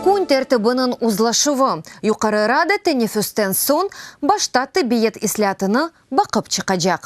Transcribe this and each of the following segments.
Kün tertibiniñ uzlaşuvı, Yuqarı Rada teneffüsten soñ başta tibiyet islâtını baqıp çıqacaq.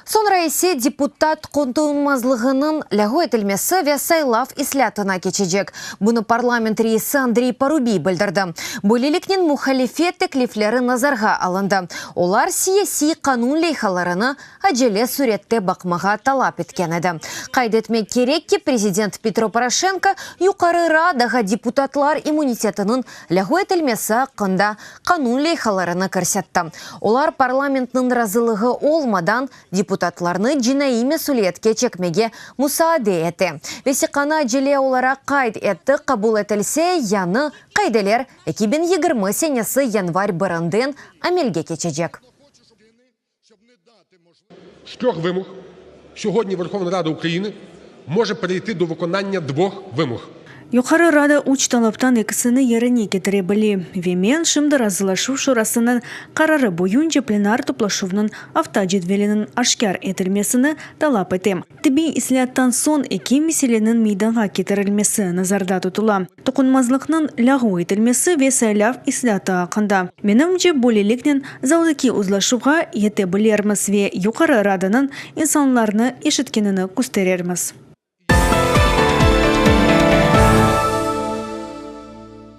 Soñra ise deputat qoñtuñmazlığınıñ lâğu etilmesi ve saylav islâtına keçecek, bunı parlament reisi Andrey Parubiy bildirdi. Böyleliknen, muhalifet teklifleri nazarğa alındı, olar siyasiy qanun leyhalarını acele sürette baqmağa talap etken edi. Qayd etmek kerek ki, prezident Petro Poroşenko Yuqarı Radağa deputatlar immunitetiniñ lâğu etilmesi aqqında qanun leyhalarını kirsetti, olar parlamentniñ razılığı olmadan deputatlarnı cinaiy mesüliyetke çekmege musaade ete. Vesiqanı acele olaraq qayd etti, qabul etilse, yañı qaideler eki biñ yigirmi senesi yanvar birinden amelge keçecek. З treh vımog söğüdni Verhovna Rada Ukrayina može pereyiti do vıkonanya dvoh vımog. Yuqarı Rada üç talaptan ekisini yerine ketire bile. Ve men şimdi Razılaşuv Şurasınıñ qararı boyunca plenar toplaşuvnıñ avtocedveliniñ aşkâr etilmesini talap etem. Tibiy islâattan soñ eki meseleniñ meydanğa ketirilmesi nazarda tutula. Toqunmazlıqnıñ lâğu etilmesi ve saylav islâtı aqqında, menimce, böyleliknen zaldaki uzlaşuvğa yete bilermiz ve Yuqarı Radanıñ insanlarnı eşitkenini kösterermiz.